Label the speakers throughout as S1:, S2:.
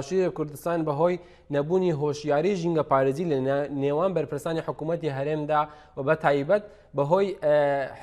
S1: باشووری کوردستان بەهۆی نەبوونی هۆشیاری ژینگەپارێزی لە نێوان بەرپرسانی حکوومەتتی هەرێمدا و بە تایبەت بەهۆی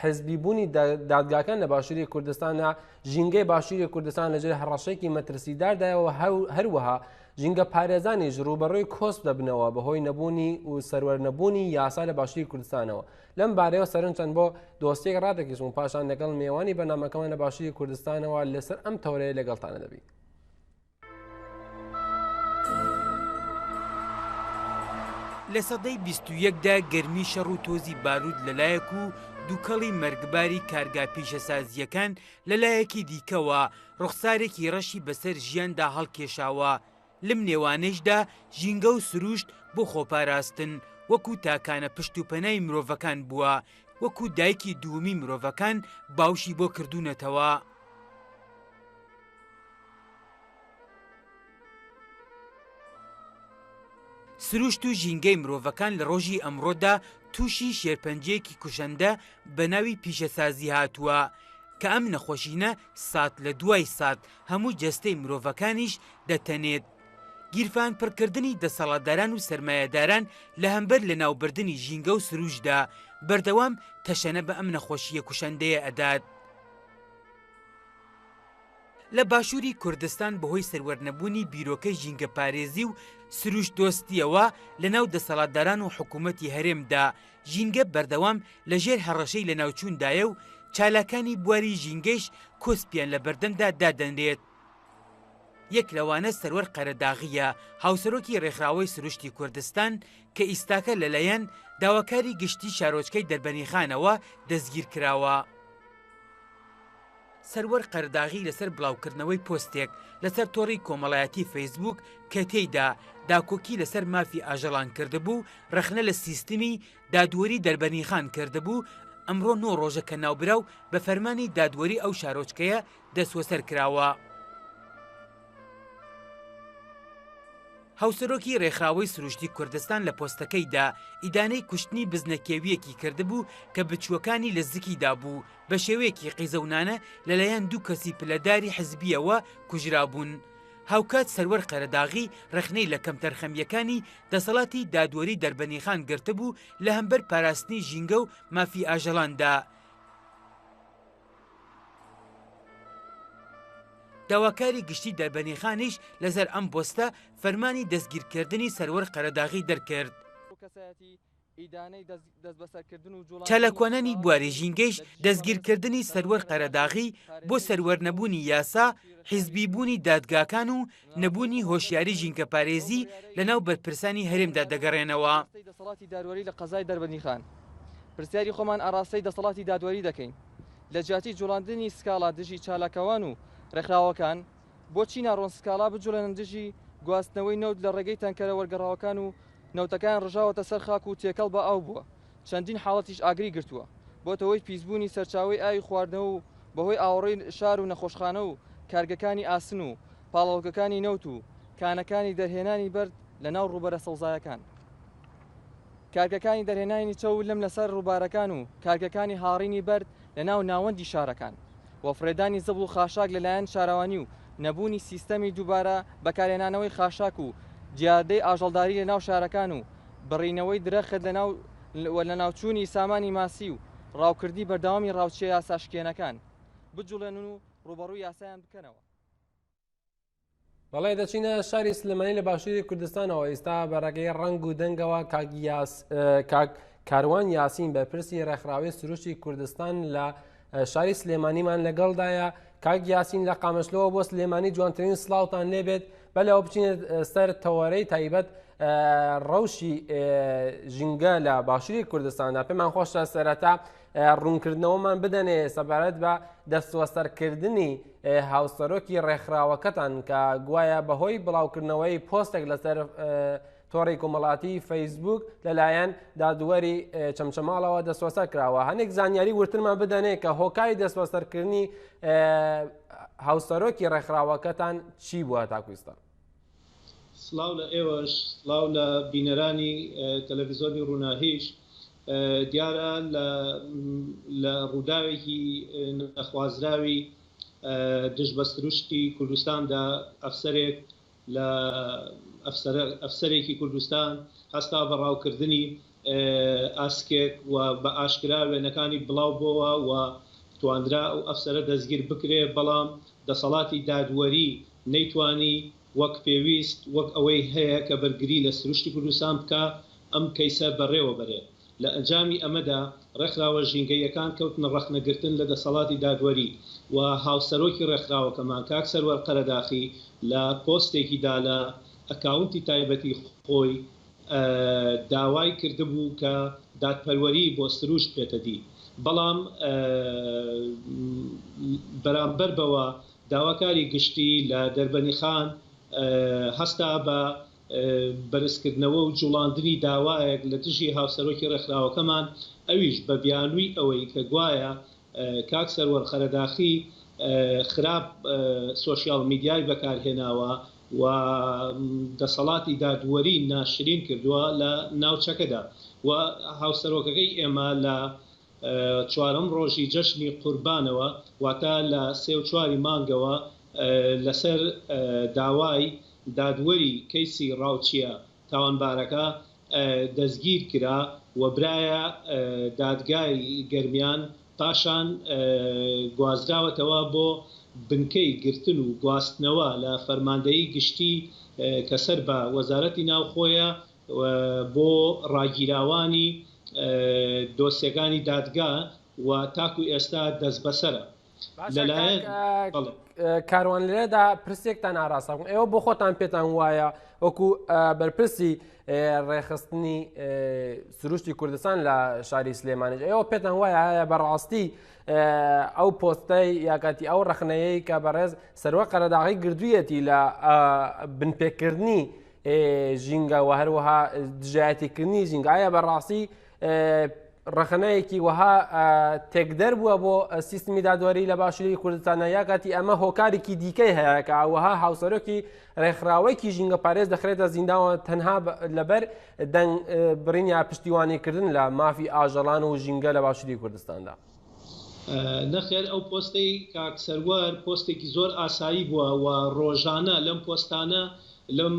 S1: حزبی بوونی دادگاکان لە باشووری کوردستانە ژینگەی باشووری کوردستان لەژێر هەڕەشێکی مەترسیداردایەوە هەروەها ژینگە پارێزانیش ڕوبەڕووی کۆست دەبنەوە بەهۆی نەبوونی و سەروەر نەبوونی یاسا لە باشووری کوردستانەوە لەم بارەیەوە سەرن چەند بۆ دۆستێک ڕاتێکیش و پاشان لەگەڵ میێوانی بەنامەکەمان لە باشووری کوردستانەوە لەسەر ئەم تەورەیە لەگەڵتانە دەبین.
S2: لە سەدەی بیست و یەکدا گەرمی شەڕ و تۆزی بارود لەلایەک و دووکەڵی مەرگباری کارگا پیشەسازییەکان لەلایەکی دیکەوە ڕوخسارێکی ڕەشی بەسەر ژیاندا هەڵکێشاوە لەم نێوانەیشدا ژینگە و سروشت بۆ خۆپاراستن وەکو تاکانە پشت و پەنای مرۆڤەکان بووە وەکو دایکی دوومی مرۆڤەکان باوشی بۆ کردوونەتەوە. سروشت و ژینگەی مرۆڤەکان لە ڕۆژی ئەمڕۆدا تووشی شێرپەنجەیەکی کوشەندە بە ناوی پیشەسازی هاتووە کە ئەم نەخۆشینە سات لە دوای سات هەموو جەستەی مرۆڤەکانیش دەتەنێت. گیرفان پڕکردنی دەسەڵاتداران و سرمایهداران لە هەمبەر لە ناوبردننی ژینگە و سروشدا بەردەوام تەشەنە بە ئەم نەخۆشیە کوشەندەیە ئەدات. لە باشووری کوردستان بەهۆی سەروەرنەبوونی بیرۆکەی ژینگەپارێزی و سروشت دۆستییەوە لەناو دەسەڵاتداران و حکوومەتی هەرێمدا، ژینگە بەردەوام لەژێر هەڕەشەی لەناوچووندایە و چالاکانی بواری ژینگەیش کۆسپیان لە بەردەمدا دادەنرێت. یەک لەوانە سەروەر قەرەداغییە، هاوسەرۆکی رێکخراوەی سروشتی کوردستان کە ئیستاکە لەلایەن داواکاری گشتی شارۆچکەی دەربەنیخانەوە دەستگیرکراوە. سەروەر قەرداغی لەسەر بڵاوکردنەوەی پۆستێک لەسەر تۆڕی کۆمەڵایەتی فەیسبووک کە تێیدا داکۆکی لەسەر مافی ئاژەڵان کردبوو ڕەخنە لە سیستمی دادوەری دەربەنیخان کردبوو ئەمڕۆ نۆ ڕۆژە کە ناوبراو بە فەرمانی دادوەری ئەو شارۆچکەیە دەسوەسەر کراوە. هاوسەرۆکی رێکخراوەی سروشتی کوردستان لە پۆستەکەیدا ئیدانەی کوشتنی بزنە کێوییەکی کردبوو کە بچووەکانی لە زکی دابوو، بە شێوەیەکی قیزەونانە لەلایەن دوو کەسی پلەداری حزبییەوە کوژرابوون. هاوکات سەروەر قەرەداغی رەخنەی لە کەمتەرخەمییەکانی دەسەڵاتی دادوەری دەربەنیخان گرتبوو لە هەمبەر پاراستنی ژینگە و مافی ئاژەڵاندا، داواکاری گشتی دەربەنیخانیش لەسەر ئەم پۆستە فەرمانی دەستگیرکردنی سەروەر قەرەداغی دەرکرد. چالاکوانانی بواری ژینگەیش دەستگیرکردنی سەروەر قەرەداغی بۆ سەروەرنەبوونی یاسا، حیزبیبوونی دادگاکان و نەبوونی هۆشیاری ژینکەپارێزی لە ناو بەرپرسانی هەرێمدا دەگەڕێنەوە. ئاڕاستەی دەسەڵاتی دادوەری
S3: لە قەزای دەربەندیخان، پرسیاری خۆمان ئاڕاستەی دەسەڵاتی دادوەری دەکەین لە جیاتی جوڵاندنی سکاڵا دژی چالاکوان و ڕێکخراوەکان، بۆچی ناڕۆن سکاڵا بجوڵێنن دژی گواستنەوەی نەوت لە ڕێگەی تانکەرە وەرگەڕاوەکان و نەوتەکەیان ڕژاوەتە سەر خاک و تێکەڵ بە ئاو بووە؟ چەندین حاڵەتیش ئاگری گرتووە، بۆتە هۆی پیسبوونی سەرچاوەی ئاوی خواردنەوە و بەهۆی ئاوەڕۆی شار و نەخۆشخانە و کارگەکانی ئاسن و پاڵاوگەکانی نەوت و کانەکانی دەرهێنانی بەرد لە ناو ڕووبەرە سەوزایەکان کارگەکانی دەرهێنانی چەور لم لەسەر ڕووبارەکان و کارگەکانی هاڕینی بەرد لە ناو ناوەندی شارەکان و فڕێدانی زبڵ و خاشاک لەلایەن شارەوانی و نەبوونی سیستەمی دووبارە بەکارهێنانەوەی خاشاک و دیاردەی ئاژەڵداری لە ناو شارەکان و بڕینەوەی درەخت لە ناو و لە ناوچوونی سامانی ماسی و ڕاوکردنی بەردەوامی ڕاوچیە یاساشکێنەکان بجوڵێنن و ڕووبەڕووی یاسایان بکەنەوە.
S1: بەڵێ دەچینە شاری سلێمانی لە باشووری کوردستانەوە ئیستا بەڕێگەی ڕەنگ و دەنگەوە کاک کاروان یاسین بەرپرسی ڕێکخراوی سروشتی کوردستان لە شاری سلێمانیمان لەگەڵدایە کاک یاسین لە قامشلەوە بۆ سلێمانی جوانترین سلااوان لێبێت بەلەوە بچین سەر تەوەرەی تایبەت ڕەوشی ژینگە لە باشووری کوردستاندا پێمان خۆشە سەرەتا ڕوونکردنەوەمان بدەنێ سەبارەت بە دەستوەسەرکردنی هاوسەرۆکی ڕێکخراوەکەتان کە گوایە بەهۆی بڵاوکردنەوەی پۆستێک لەسەر تۆڕی کۆمەڵاتی فەیسبوک لەلایەن دادوەری چەمچەماڵەوە دەسوەسەر کراوە هەنێک زانیاری ورترمان بدەنێ کە هۆکاری دەسوەسەرکردنی هاوسەرۆکی ڕێکخراوەکەتان چی بووە تاکویستان
S4: سلااو لە ئێوەش سلااو لە بینەرانی تەلەڤزیۆنی ڕووناهیش دیارە لە ڕووداوێکی نەخوازراوی دژ بە سروشتی کوردستاندا ئەفسەرێک لە ئەفسەرێکی کوردستان هەستا بە ڕاوکردنی ئاسکێک و بە ئاشکرا وێنەکانی بڵاو بۆوە و توانرا ئەو ئەفسەرە دەستگیر بکرێ بەڵام دەسەڵاتی دادوەری نەیتوانی وەک پێویست وەک ئەوەی هەیە کە بەرگری لە سروشتی کوردستان بکا ئەم کەیسە بەڕێوە بەرێ. لە ئەنجامی ئەمەدا ڕێکخراوە ژینگەییەکان کەوتنە ڕەخنەگرتن لە دەسەڵاتی دادوەری و هاوسەرۆکی ڕێکخراوەکەمان کاک سەروەر قەرەداخی لە پۆستێکی دا لە ئەکاونتی تایبەتی خۆی داوای کردبوو کە دادپەروەری بۆ سروشت بێتە دی بەڵام بەرامبەر بەوە داواکاری گشتی لە دەربەنیخان هەستا بە بەرزکردنەوە و جوڵاندنی داوایەک لە دژی هاوسەرۆکی ڕێکخراوەکەمان، ئەویش بە بیانووی ئەوەی کە گوایە کاک سەروەر قەرەداخی خراپ سۆشیال میدیای بەکارهێناوە و دەسەڵاتی دادوەری ناشرین کردووە لە ناوچەکەدا و هاوسەرۆکەکەی ئێمە لە چوارەم ڕۆژی جەژنی قوربانەوە واتە لە سێ و چواری مانگەوە لەسەر داوای دادوەری کەیسی ڕاوچیە تاوانبارەکە دەستگیر کرا و برایە دادگای گەرمیان پاشان گوازراوەتەوە بۆ بنکەی گرتن و گواستنەوە لە فەرماندەیی گشتی کە سەر بە وەزارەتی ناوخۆیە بۆ ڕاگیراوانی دۆسیەکانی دادگا و تاکو ئێستا دەستبەسەرە لەلایەن.
S1: کاروان لێرەدا پرسێکتان ئاراستە بوون ئێوە بۆ خۆتان پێتان وایە وەکو بەرپرسی ڕێخستنی سروشتی کوردستان لە شاری سلێمانێت ئێوە پێتان وایە هەیە بەڕاستی ئەو پۆستای یاکاتی ئەو ڕخنەیەی کە بەڕێز سەروە قەرەداغی گردوویەتی لە بنپێکردنی ژینگە و هەروەها دژایەتیکردنی ژینگە ئایا بەڕاستی ڕخنەیەکی وەها تێکدەر بووە بۆ سیستمی دادوەری لە باشووری کوردستانە یا کاتی ئەمە هۆکارێکی دیکەی هەیەکە وەها هاوسەرۆکی ڕێکخراوەیەکی ژینگە پارێز دەخرێتە زینداوە تەنها لەبەر دەنگ برین یا پشتیوانیکردن لە مافی ئاژەڵان و ژینگە لە باشووری کوردستاندا.
S4: نەخێر ئەو پۆستەی کاک سەروەر پۆستێکی زۆر ئاسایی بووە و ڕۆژانە لەم پۆستانە لەم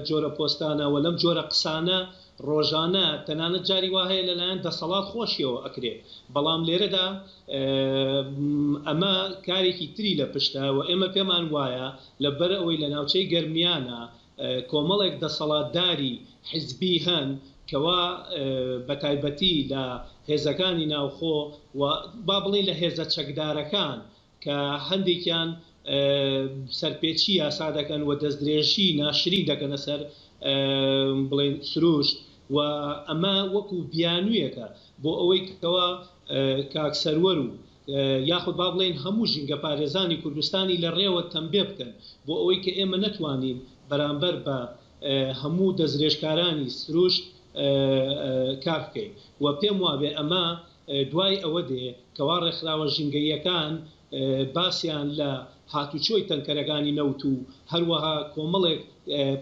S4: جۆرە پۆستانە و لەم جۆرە قسانە ڕۆژانە تەنانەت جاری وا هەیە لەلایەن دەسەڵات خۆشیەوە ئەکرێ بەڵام لێرەدا ئەمە کارێکی تری لە پشتە و ئێمە پێمان وایە لە بەر ئەوەی لە ناوچەی گەرمیانە کۆمەڵێک دەسەڵاتداری حیزبی هەن کەوا بە تایبەتی لە هێزەکانی ناوخۆ و با بڵێین لە هێزە چەکدارەکان کە هەندێکیان سەرپێچی یاسا دەکەن و دەستدرێژی ناشرین دەکەنە سەر بڵێین سروشت و ئەمە وەکو بیانوویەکە بۆ ئەوەی کەوا کاک سەروەر و یاخود با بڵێین هەموو ژینگەپارێزانی کوردستانی لە ڕێوە تەمبێ بکەن بۆ ئەوەی کە ئێمە نەتوانین بەرامبەر بە هەموو دەستدرێژکارانی سروشت کار بکەین و پێم وابێ ئەمە دوای ئەوە دێ کەوا ڕێکخراوە ژینگەییەکان باسیان لە هاتوچۆی تەنکەرەکانی نەوت و هەروەها کۆمەڵێک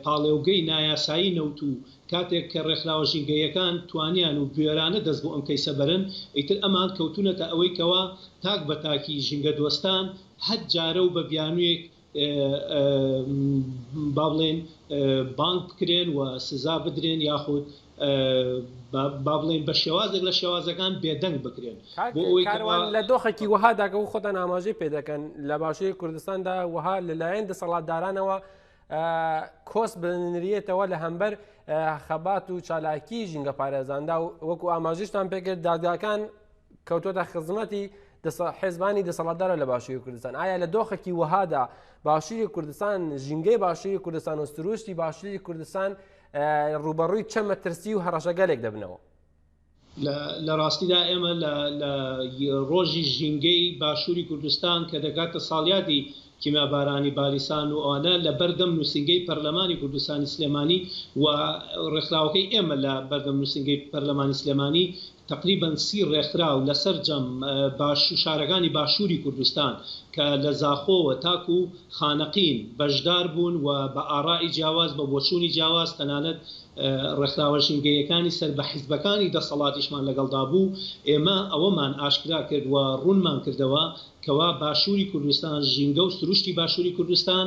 S4: پاڵێوگەی نایاسایی نەوت و کاتێک کە ڕێکخراوە ژینگەییەکان توانیان و بوێرانە دەست بۆ ئەم کەیسە بەرن ئیتر ئەمان کەوتونەتە ئەوەی کەوا تاک بە تاکی ژینگە دۆستان هەر جارە و بە بیانویەک با بڵێین بانگ بکرێن و سزا بدرێن یاخود با بڵێین بە شێوازێک لە شێوازەکان بێدەنگ بکرێن بۆ ئەوەی کەوا لە دۆخێکی
S1: وەهاداکە و خۆتان ئاماژەی پێدەکەن لە باشوری کوردستاندا وەها لەلایەن دەسەڵاتدارانەوە کۆسپ بنریتەوە لە هەمبەر خەبات و چالاکی ژینگە پارێزاندا و وەکو ئاماژشتان پێکرد دادگاکان کەوتۆتە خزمەتی حێزبانی دەسەڵاتدارە لە باشووری کوردستان ئایا لە دۆخێکی وەهادا باشووری کوردستان ژینگەی باشووری کوردستان و سروشتی باشووری کوردستان ڕوبەڕووی چەمە ترسی و هەڕەشەگەلێک دەبنەوە
S4: لە ڕاستیدا ئێمە لە ڕۆژی ژینگەی باشووری کوردستان کە دەگاتە ساڵیادی کیمیابارانی بالیسان و ئەوانە لە بەردەم نووسینگەی پەرلەمانی کوردستانی سلێمانی و ڕێکخراوەکەی ئێمە لە بەردەم نووسینگەی پەرلەمانی سلێمانی تەقریبەن سی ڕێکخراو لە سەرجەم شارەکانی باشووری کوردستان کە لە زاخۆوە تاکو خانەقین بەشدار بوون و بە ئاڕائی جیاواز بە بۆچوونی جیاواز تەنانەت ڕێکخراوە ژینگەییەکانی سەر بە حیزبەکانی دەسەڵاتیشمان لەگەڵدا بوو، ئێمە ئەوەمان ئاشکرا کرد و ڕوونمان کردەوە کەوا باشووری کوردستان، ژینگە و سروشتی باشووری کوردستان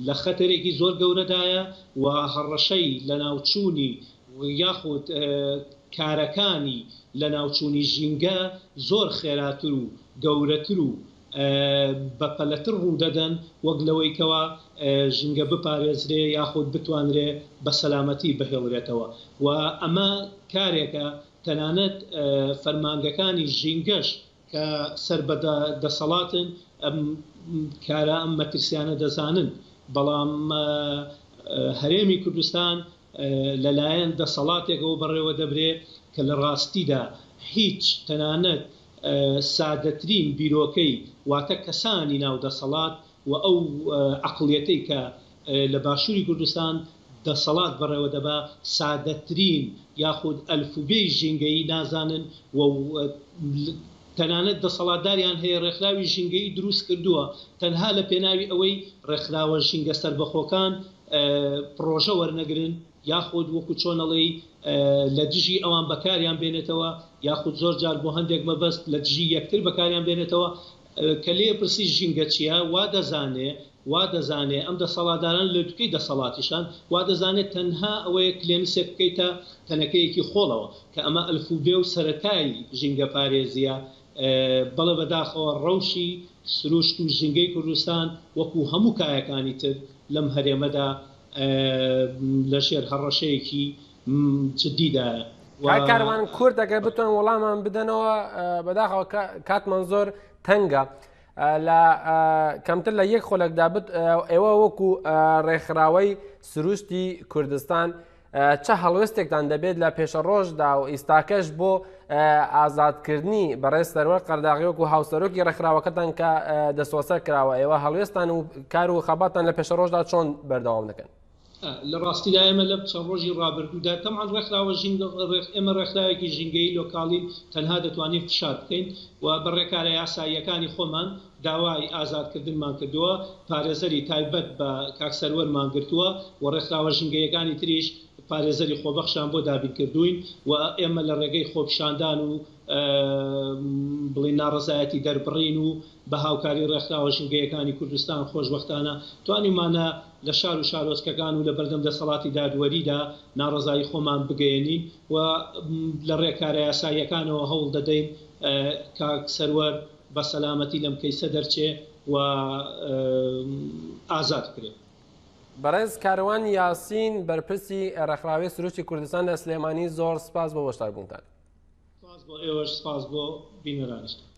S4: لە خەتەرێکی زۆر گەورەدایە و هەڕەشەی لەناوچوونی یاخود کارەکانی لەناوچوونی ژینگە زۆر خێراتر و گەورەتر و بەپەلەتر ڕوودەدەن وەک لەوەی کەوا ژینگە بپارێزرێ یاخود بتوانرێ بە سەلامەتی بهێڵرێتەوە و ئەمە کارێکە تەنانەت فەرمانگەکانی ژینگەش کە سەر بە دەسەڵاتن ئەم کارە ئەم مەترسیانە دەزانن بەڵام هەرێمی کوردستان لەلایەن دەسەڵاتێکەوە بەڕێوە دەبرێ کە لە ڕاستیدا هیچ تەنانەت سادەترین بیرۆکەی واتە کەسانی ناو دەسەڵات و ئەو عەقڵیەتەی کە لە باشووری کوردستان دەسەڵات بەڕێوە دەبا سادەترین یاخود ئەلفوبێی ژینگەیی نازانن و تەنانەت دەسەڵاتداریان هەیە ڕێکخراوی ژینگەیی دروست کردووە تەنها لە پێناوی ئەوەی ڕێکخراوە ژینگە سەربەخۆکان پڕۆژە وەرنەگرن یاخود وەکو چۆن ئەڵێی لە دژی ئەوان بەکاریان بێنێتەوە یاخود زۆر جار بۆ هەندێک مەبەست لە دژی یەکتر بەکاریان بێنێتەوە کە لێ پرسی ژینگە چیە وا دەزانێ وا دەزانێ ئەم دەسەڵاتداران لوتکەی دەسەڵاتیشان وا دەزانێت تەنها ئەوەیە کلێنسێک بکەیتە تەنەکەیەکی خۆڵەوە کە ئەمە ئەلفوبێ و سەرەتای ژینگە پارێزیە بەڵێ بەداخەوە ڕەوشی سروشت و ژینگەی کوردستان وەکو هەموو کایەکانی تر لەم هەرێمەدا لە ژێر هەڕەشەیەکی جددیدایە. کاک کاروان
S1: کورد ئەگەر بتوان وەڵامان بدەنەوە بەداخەوە کاتمان زۆر تەنگە لە کەمتر لە یەک خۆلەکدا بت ئێوە وەکو ڕێکخراوەی سروشتی کوردستان چ هەڵوێستێکتان دەبێت لە پێشەڕۆژدا و ئیستاکەش بۆ ئازادکردنی بەڕێز سەروەر قەرداغیۆک و هاوسەرۆکی ڕێکخراوەکەتان کە دەسۆسە کراوە ئێوە هەڵوێستان و کار و خەباتان لە پێشەڕۆژدا چۆن بەردەوام دەکەن لە ڕاستیدا
S4: ئێمە لە چەند ڕۆژی ڕابردوودا تەمان ڕێکخراوە ئێمە ڕێکخراوێکی ژینگەی لۆکاڵین تەنها دەتوانین فشار بکەین و بە ڕێکارە یاساییەکانی خۆمان داوای ئازادکردنمان کردووە، پارێزەری تایبەت بە کاک سەروەرمان گرتووە و ڕێکخراوە ژینگەییەکانی تریش پارێزەری خۆبەخشیان بۆ دابین کردووین و ئێمە لە ڕێگەی خۆپیشاندان و بڵێین ناڕەزایەتی دەربڕین و بە هاوکاری ڕێکخراوە ژینگەییەکانی کوردستان خۆشبەختانە توانیومانە لە شار و شارۆچکەکان و لە بەردەم دەسەڵاتی دادوەریدا ناڕەزایی خۆمان بگەیەنین و لە ڕێکارە یاساییەکانەوە هەوڵ دەدەین کاک سەروەر بە سەلامەتی لەم کەیسە دەرچێ و ئازاد بکرێ. بەڕێز
S1: کاروان یاسین بەرپرسی ڕێکخراوی سروشتی کوردستان لە سلێمانی زۆر
S4: سپاس
S1: بۆ
S4: بەشداربوونتان.
S1: سپاس
S4: بۆ ئێوەش
S1: سپاس
S4: بۆ
S1: بینەرانیشتان.